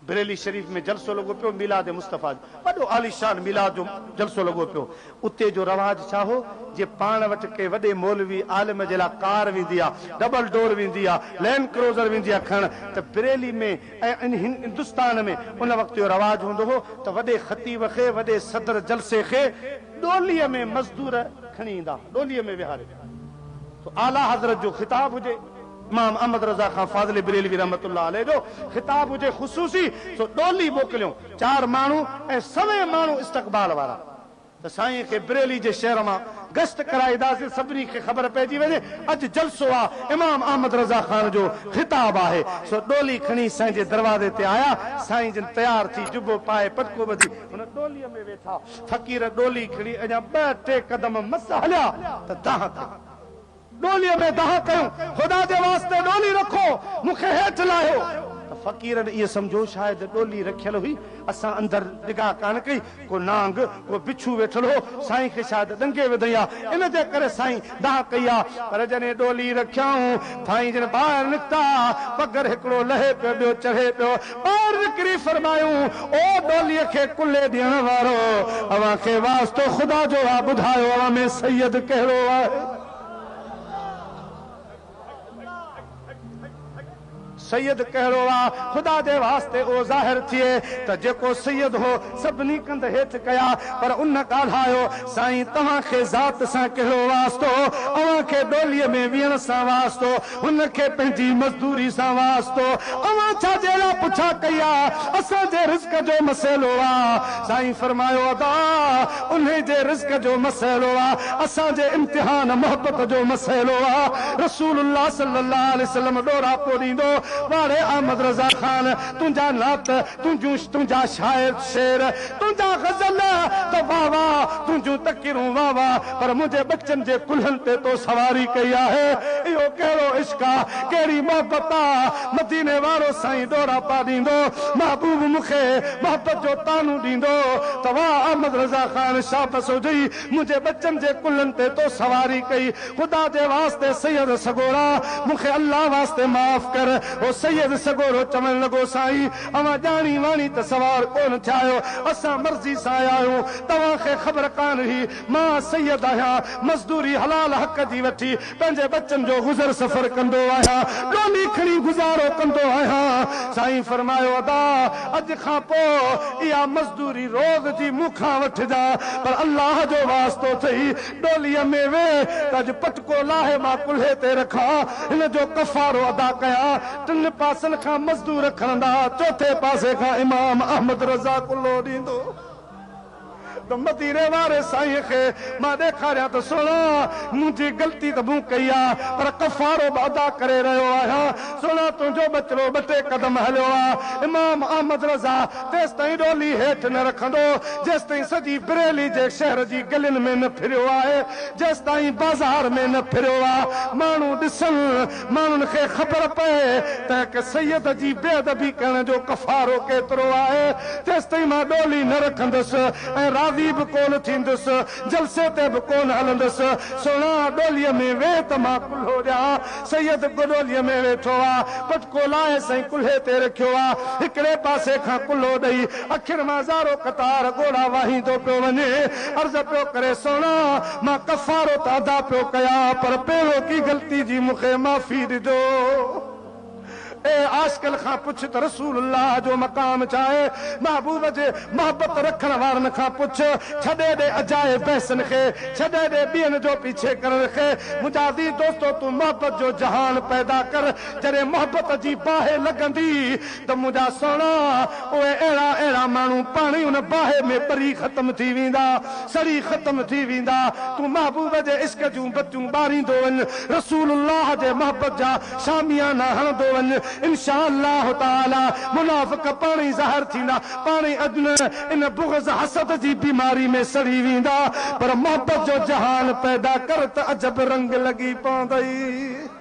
بريلي شريف ۾ جلسو لڳو پيو ميلاد مصطفيٰ جو وڏو عاليشان ميلاد جو جلسو لڳو پيو اتي جو رواج ڇا هو جي پاڻ وٽ ڪنهن وڏي مولوي عالم جي لاء ڪار ويندي ها ڊبل ڊور ويندي ها لينڊ ڪروزر ويندي ها کڻڻ ته بريلي ۾ ۽ هندستان ۾ ان وقت اهو رواج هوندو هو ته وڏي خطيب کي وڏي صدر جلسي کي ڏولي ۾ مزدور کڻي ايندا ها ڏولي ۾ ويهاري سو اعليٰ حضرت جو خطاب هجي، امام احمد رضا خان فاضلي بريلوي رحمة الله عليه جو خطاب هجي خصوصي سو ڏولي موڪليون چار ماڻهو ۽ سوين ماڻهو استقبال وارا ته سائين کي بريلي جي شهر مان گشت ڪرائيداسين سڀني کي خبر پئجي وڃي اڄ جلسو آ امام احمد رضا خان جو خطاب آهي سو ڏولي کڻي سائين جي دروازي تي آيا سائين جن تيار ٿي جبو پائي پٽڪو ٻڌي هن ڏولي ۾ ويٺا. فقير ڏولي کڻي اڃا ٻه ٽي قدم مس هليا ته دانهن ڪئي. ڏوليء ۾ دانهن ڪيون، خدا جي واسطي ڏولي رکو، مون کي هيٺ لاهيو. ته فقيرن ائين سمجهيو شايد ڏولي رکيل هئي، اسان اندر نگاهه ڪانه ڪئي، ڪو نانگ، ڪو بڇو ويٺل هو، سائين کي شايد ڏنگي وڌئين ها، ان جي ڪري سائين دانهن ڪئي آ، پر جڏهن ڏولي رکيائون، ٿائين جن ٻاهر نڪتا، پگهر هڪڙو لهي پيو، ٻيو چڙهي پيو. ٻاهر نڪري فرمايائون، او ڏوليء کي ڪلهي ڏيڻ وارو! اوهان کي واسطو خدا جو آ، ٻڌايو اوهان ۾ سيد ڪهڙو آهي؟ سيد ڪهڙو آ؟ خدا جي واسطي اهو ظاهر ٿئي ته جيڪو سيد هو سڀني ڪنڌ هيٺ ڪيا پر ان ڳالهايو سائين توهان کي ذات سان ڪهڙو واسطو اوهان کي ڏولي ۾ ويهڻ سان واسطو هن کي پنهنجي مزدوري سان واسطو اوهان ڇا جي لا پڇا ڪئي آ اسان جي رزق جو مسئلو آ سائين فرمايو ادا انهي جي رزق جو مسئلو آ، اسان جي امتحان محبت جو مسئلو آ، رسول الله صلي الله عليه وسلم ڏوراپو ڏيندو، واڙي احمد رضا خان تنهنجا نعت، تنهنجون تنهنجا شاعر شعر، تنهنجا غزل ته واه واه، تنهنجون تقريرون واه واه، پر منهنجي ٻچن جي ڪلهن تي تو سواري ڪئي آهي، اهو ڪهڙو عشق آ، ڪهڙي محبت آ، مديني وارو سائين ڏوراپا ڏيندو، محبوب مون کي محبت جو طعنو ڏيندو ته واھ احمد رضا خان شاھ بسوجئي منهنجي ٻچن جي ڪلهن تي تو سواري ڪئي، خدا جي واسطي سيد سڳورا مون کي الله واسطي معاف ڪر، هو سيد سڳورو چوڻ لڳو سائين اوهان ڄاڻي واڻي ته سوار ڪونه ٿيا آهيو، اسان مرضي سان آيا آهيون، توهان کي خبر ڪانه هئي مان سيد آهيان، مزدوري حلال حق جي وٺي پنهنجي ٻچن جو گذر سفر ڪندو آهيان، ڏولي کڻي گذارو ڪندو آهيان. سائين فرمايو ادا اڄ کان پوء اها مزدوري روز جي مون کان وٺجان پر الله جو واسطو اٿئي ڏوليء ۾ ويهه ته اڄ پٽڪو لاهي مان ڪلهي تي رکان هن جو ڪفارو ادا ڪيان ٽن پاسن کان مزدور کڻندا چوٿين پاسي کان امام احمد رضا ڪلهو ڏيندو. ته مديني واري سائين کي مان ڏيکاريان ته سهڻا منهنجي غلطي ته مون ڪئي آ پر ڪفارو به ادا ڪري رهيو آهيان سهڻا تنهنجو ٻچڙو ٻه ٽي قدم هليو آ امام احمد رضا تيستائين ڏولي هيٺ نه رکندو جيستائين سڄي بريلي جي شهر جي گلين ۾ نه ڦريو آهي جيستائين بازار ۾ نه ڦريو آ ماڻهو ڏسن ماڻهن کي خبر پئي ته هڪ سيد جي بي ادبي ڪرڻ جو ڪفارو ڪيترو آهي، تيستائين مان ڏولي نه رکندس ۽ راضي به ڪونه ٿيندس، جلسي تي به ڪونه هلندس، سهڻا ڏوليء ۾ ويهه ته مان ڪلهو ڏيان. سيد به ڏوليء ۾ ويٺو آ، پٽڪو لائي سائين ڪلهي تي رکيو آ، هڪڙي پاسي کان ڪلهو ڏئي اکين مان زارو قطار ڳوڙها واهيندو پيو وڃي، عرض پيو ڪري، سهڻا! مان ڪفارو ته ادا پيو ڪيان پر پيروڪي غلطي جي مون کي معافي ڏجو. اي عاشقن کان پڇ ته رسول الله جو مقام ڇا آهي؟ محبوب جي محبت رکڻ وارن کان پڇ، ڇڏي ڏي اجائي بحثن کي، ڇڏي ڏي ٻين جو پيڇي ڪرڻ کي، منهنجا عزيز دوستو تون محبت جو جهان پيدا ڪر، جڏهن محبت جي باهه لڳندي ته منهنجا سهڻا، اهي اهڙا اهڙا ماڻهو پاڻ ئي ان باهه ۾ ٻري ختم ٿي ويندا، سڙي ختم ٿي ويندا، تون محبوب جي عشق جون بتيون ٻاريندو وڃ، رسول الله جي محبت جا شاميانا هڻندو وڃ، انشاء الله تعالٰي منافق پاڻ ئي ظاهر ٿيندا، پاڻ ئي اجنه ان بغض حسد جي بيماري ۾ سڙي ويندا، پر محبت جو جهان پيدا ڪر ته عجب رنگ لڳي پوندئي.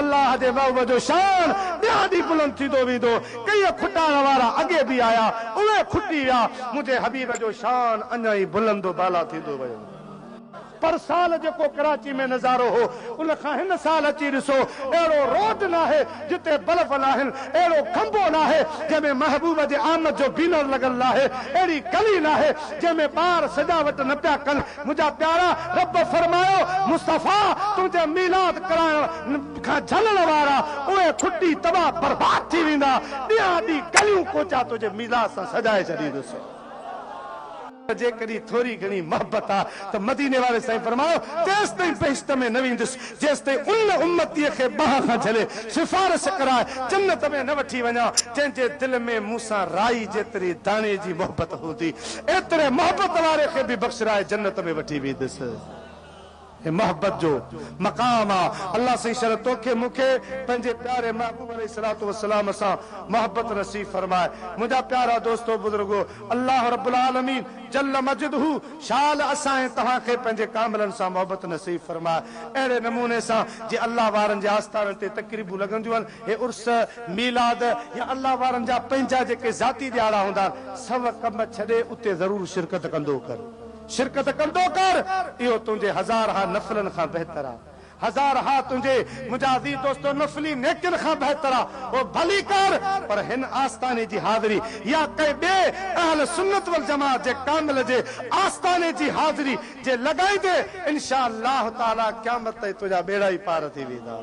الله جي وهوء جو شان ڏينهان ڏينهن بلند ٿيندو ويندو. ڪيئي کٽائڻ وارا اڳي به آيا، اهي کٽي ويا، منهنجي حبيب جو شان اڃا ئي بلند و بالا ٿيندو ويو. پر سال جيڪو ڪراچي ۾ نظارو هو، ان کان هن سال اچي ڏسو، اهڙو روڊ ناهي جتي بلف ناهن، اهڙو کنڀو ناهي جنهن ۾ محبوب جي آمد جو بينر لڳل ناهي، اهڙي گلي ناهي جنهن ۾ ٻار سجاوٽ نه پيا ڪن، منهنجا پيارا! رب فرمايو، مصطفيٰ! تنهنجي ميلاد ڪرائڻ کان جهلڻ وارا، اهي ڦٽي تباهه برباد ٿي ويندا، ڏينهان ڏينهن گليون ڪوچا تنهنجي ميلاد سان سجائي ڇڏيندس. جيڪڏهن ٿوري گهڻي محبت آ ته مديني واري سائين فرمايو، تيستائين بهشت ۾ نه ويندس، جيستائين ان امتيء کي ٻانهن کان جهلي، سفارش ڪرائي، جنت ۾ نه وٺي وڃان، جنهن جي دل ۾ مون سان رائي جيتري داڻي جي محبت هوندي. ايتري محبت واري کي به بخشرائي جنت ۾ وٺي ويندس. هي محبت جو مقام آ. الله سائين شرح توکي مون کي پنهنجي پياري محبوب عليه الصلوة والسلام سان محبت نصيب فرمائي. منهنجا پيارا دوستو بزرگو الله رب العالمين جل مجده شال اسان ۽ توهان کي پنهنجي ڪاملن سان محبت نصيب فرمائي. اهڙي نموني سان جي الله وارن جي آستانن تي تقريبون لڳنديون آهن هي عرس، ميلاد يا الله وارن جا پنهنجا جيڪي ذاتي ڏهاڙا هوندا آهن، سڀ ڪم ڇڏي اتي ضرور شرڪت ڪندو ڪر. شرڪت ڪندو ڪر، اهو تنهنجي هزارها نفلن کان بهتر آهي. هزارها تنهنجي، منهنجا عزيز دوستو، نفلي نيڪين کان بهتر آهي. اهو ڀلي ڪر، پر هن آستاني جي حاضري يا ڪنهن ٻئي اهل سنت والجماعت جي ڪامل جي آستاني جي حاضري جي لڳائيندين، انشاء الله تعاليٰ قيامت تائين تنهنجا ٻيڙا ئي پار ٿي ويندا.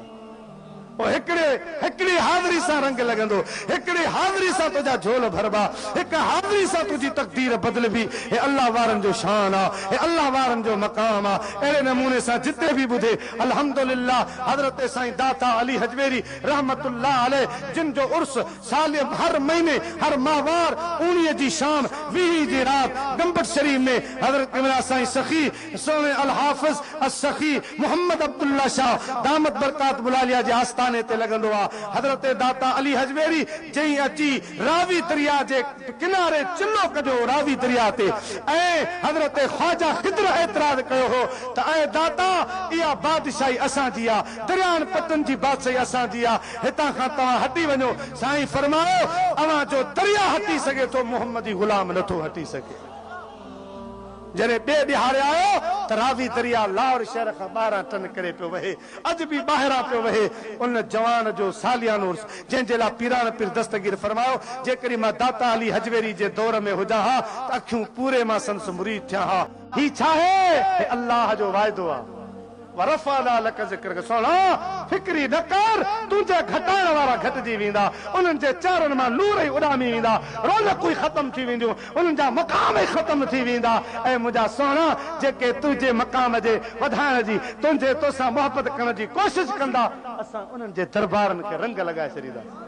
پوء هڪڙي هڪڙي حاضري سان رنگ لڳندو، هڪڙي حاضري سان تنهنجا جهول ڀربا، هڪ حاضري سان تنهنجي تقدير بدلبي، هي الله وارن جو شان آ، هي الله وارن جو مقام آ، اهڙي نموني سان جتي به ٻڌي الحمدلله حضرت سائين داتا علي هجويري رحمة الله عليه جن جو عرس ساليم هر مهيني هر ماهوار اوڻيهه جي شام ويهين جي رات گمبٽ شريف ۾ حضرت امرا سائين سخي سوين الحافظ السخي محمد عبدالله شاهه دامت برڪاتهم العاليه جي آستاني تي لڳندو آ. حضرت داتا علي هجويري جئين اچي راوي درياء جي ڪناري چلو ڪڍيو هو راوي درياء تي ۽ حضرت خواجه خضر اعتراض ڪيو هو ته اي داتا اها بادشاهي اسان جي آ درياهن پٽن جي بادشاهي اسان جي آ هتان کان توهان هٽي وڃو سائين فرمايو اوهان جو درياء هٽي سگهي ٿو محمدي غلام نٿو هٽي سگهي. جڏهن ٻئي ڏهاڙي آيو ته راوي درياء لاهور شهر کان ٻاهران ٽن ڪري پيو وهي، اڄ به ٻاهران پيو وهي. ان جوان جو ساليانو عرس جنهن جي لاء پيراڻ پير دستگير فرمايو، جيڪڏهن مان داتا علي هجويري جي دور ۾ هجان ها ته اکيون پوري مان سندس مريد ٿيان ها. هي ڇا آهي؟ هي الله جو واعدو آهي. ورفعنا لک ذکرک سهڻا فڪري نه ڪر تنهنجي گهٽائڻ وارا گهٽجي ويندا انهن جي چهرن مان نور ئي اڏامي ويندا رونقون ئي ختم ٿي وينديون انهن جا مقام ئي ختم ٿي ويندا اي منهنجا سهڻا جيڪي تنهنجي مقام جي وڌائڻ جي تنهنجي توسان محبت ڪرڻ جي ڪوشش ڪندا اسان انهن جي دربارن کي رنگ لڳائي ڇڏينداسين.